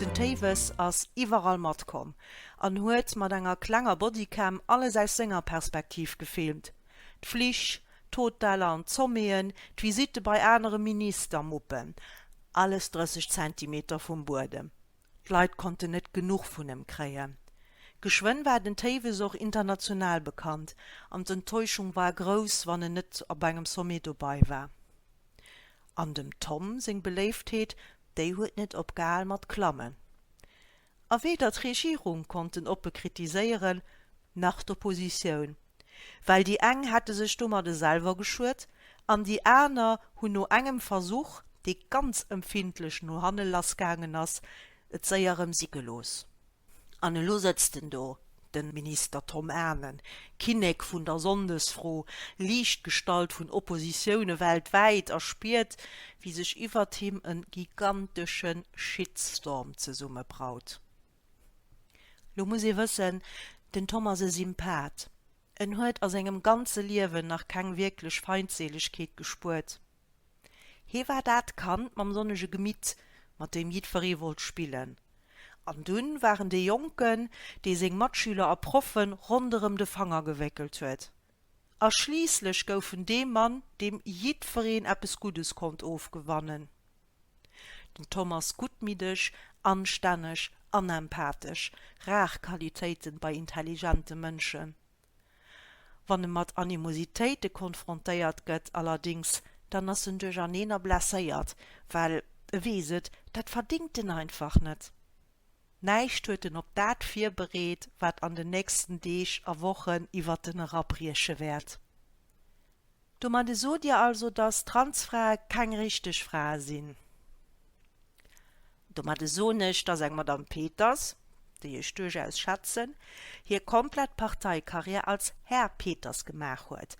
Den Téiwes ass iwwerall matkomm an huet mat enger klenger Bodycam alles aus senger Perspektiv gefilmt, d'Flich, d'Hoteller an d'Somméeën, d'Visitte bei anere Minister-Muppen, alles 30 Zentimeter vum Buedem. D'Leit konnten net genuch vun em kréien. Geschwënn war den Téiwes och international bekannt an d'Enttäuschung war grouss, wann en net op engem Sommet dobei war. An dem Tom seng Beléiftheet, déi huet net opgehal mat klammen. A weder d'Regierung konnt en oppe kritiséieren, nach d'Oppositioun. well déi eng hätte sech domadde selwer geschuet an déi aner hunn no engem Versuch, dee ganz empfindlech no hanne lassgaangen ass, et séier rëm si gelooss. An elo sëtzt en do, de Minister Tom Anen, Kinnek vun der Sonndesfro, Liichtgestalt vun Oppositioune weltwäit a spiert, wéi sech iwwert him e gigantesche Shitstorm zesummebraut. Lo muss ee wëssen, den Tom ass e Sympath. En huet a sengem ganze Liewen nach keng wierklech Feindseelegkeet gespuert. Hie war dat Kand mam sonnege Gemitt, mat deem jiddweree wollt spillen. An dunn war en dee Jonken, dee seng Matschüler a Proffe ronderëm de Fanger gewéckelt huet. A schliisslech gouf en dee Mann, deem jiddwereen eppes Guddes konnt ofgewannen, den Thomas Gutmiddeg, anstänneg an empathesch, rar Qualitéiten bei intelligente Mënschen. Wann e mat Animositéite konfrontéiert gëtt allerdéngs, dann ass en duercherneen a blesséiert, well e weess et, dat verdéngt en einfach net. Näischt huet en op dat virbereet, wat an den nächsten Deeg a Wochen iwwert en erabrieche wäert. Domadde sot Dir also, dass Transfrae keng richteg Frae sinn? Domadde soen ech, dass eng Madame Peters, déi ech duerchaus schätzen, hir komplett Parteikarriär als Här Peters gemaach huet,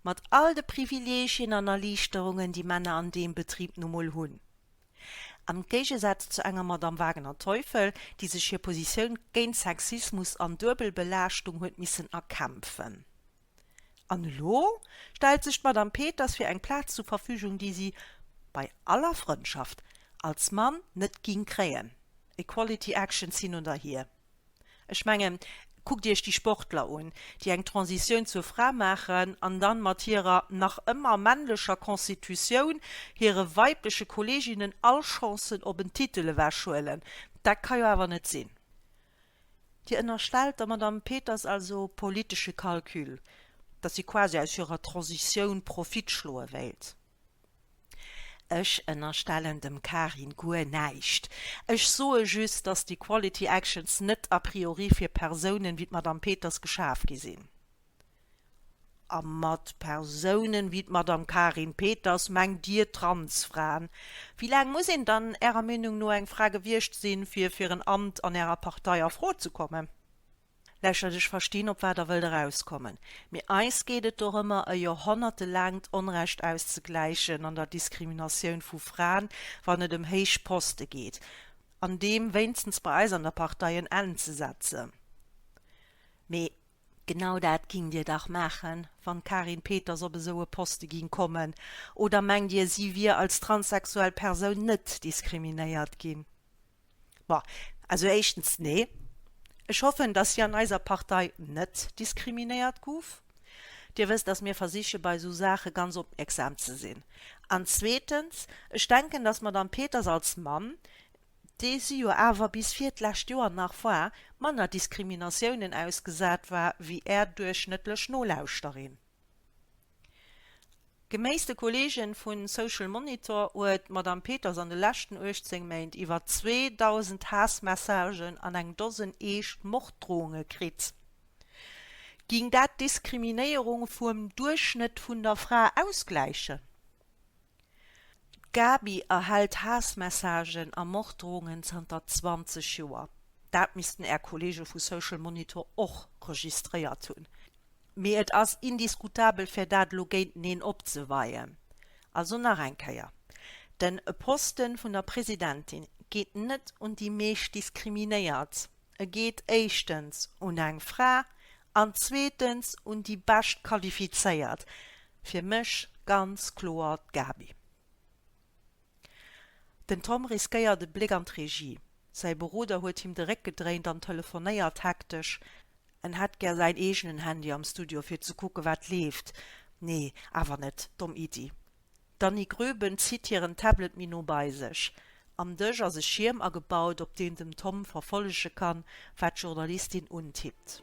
mat all de Privilegien an Erliichterungen, déi Männer an deem Betrib nu mol hunn. Am Géigesaz zu enger Madame Wagener-Teufel, déi sech hir Positioun géint Sexismus an Duebelbelaaschtung huet missen erkämpfen. An elo stellt sech d'Madame Peters fir eng Plaz zu Verfügung, déi si, bei aller Frëndschaft, als Mann net ging kréien. Equality Actions hin oder hier. Ech mengen, kuckt Iech déi Sportler un, déi eng Transitioun zur Fra maachen an dann mat hirer nach ëmmer männlecher Constitutioun hire weibleche Kolleginnen all Chancen op en Titel ewechhuelen. Dat ka jo awer net sinn. Dir ënnerstellt der Madame Peters also politesche Calcul, dass si quasi aus hirer Transitioun Profit schloe wéilt. Ech ënnerstellen dem Karin guer näischt. Ech soe just, dass déi Quality Actions net a priori fir Persounen wéi d'Madame Peters geschaf gi sinn. A mat Persounen wéi d'Madame Karin Peters mengt Dir Transfraen. Wéi laang muss een dann Ärer Meenung no eng Fra gewiescht sinn, fir fir en Amt an Ärer Partei a Fro ze kommen? Lächelt, Ech verstinn, op wat Der wëllt erauskommen. Mee eis geet et dorëmmer, e jorhonnertelaangt Onrecht auszegläichen an der Diskriminatioun vu Fraen, wann et ëm héich Poste geet, an deem wéinstens bei eis an der Partei en Enn ze setzen. Mee genau dat gingt Dir dach maachen, wann d'Karin Peters op esou e Poste ging kommen. Oder mengt Dir, si wier als transsexuell Persoun net diskriminéiert ginn? Ma, also éischtens, nee, ech hoffen, dass si an eiser Partei net diskriminéiert guff. Dir wësst, dass mir versiche bei esou Saache ganz opmierksam ze sinn. An zweetens, ech denken, dass d'Madame Peters als Mamm, déi si jo awer bis vir d'lescht Joer nach war, manner Diskriminatiounen ausgesat war wéi Är duerchschnëttlech Nolauschterin. Geméiss de Kolleegen vu Social Monitor huet d'Madame Peters an de leschten 18 Méint iwwer 2.000 Haassmessagen an eng Dosen eescht Morddrohunge kritt. Ging dat d'Diskriminéierung vuem Duerchschnëtt vun der Fra ausgläichen? D'Gaby erhält Haassmessagen a Morddrohungen zanter 20 Joer. Dat missten Är Kolleege vu Social Monitor och registréiert hunn. Mee et ass indiskutabel, fir dat elo géinteneen opzeweien. Also nach eng Kéier, Den Posten vun der Presidentin geet net un déi meescht Diskriminéiert. E geet éischtens un eng Fra an zweetens un déi bescht Qualifizéiert, fir mech ganz kloer d'Gabi. Den Tom riskéiert e Bléck an d'Regie. Säi Beroder huet him de Réck gedréint an telefonéiert hektesch. En hätt gär säin eegenen Handy am Studio fir ze kucke wat leeft. Nee, awer net. Domm Iddi. D'Annie Gröben zitt hiren Tablet méi no bei sech. Am Dësch ass e Schierm agebaut, op deen den Tom verfollege kann, wat d'Journalistin untippt.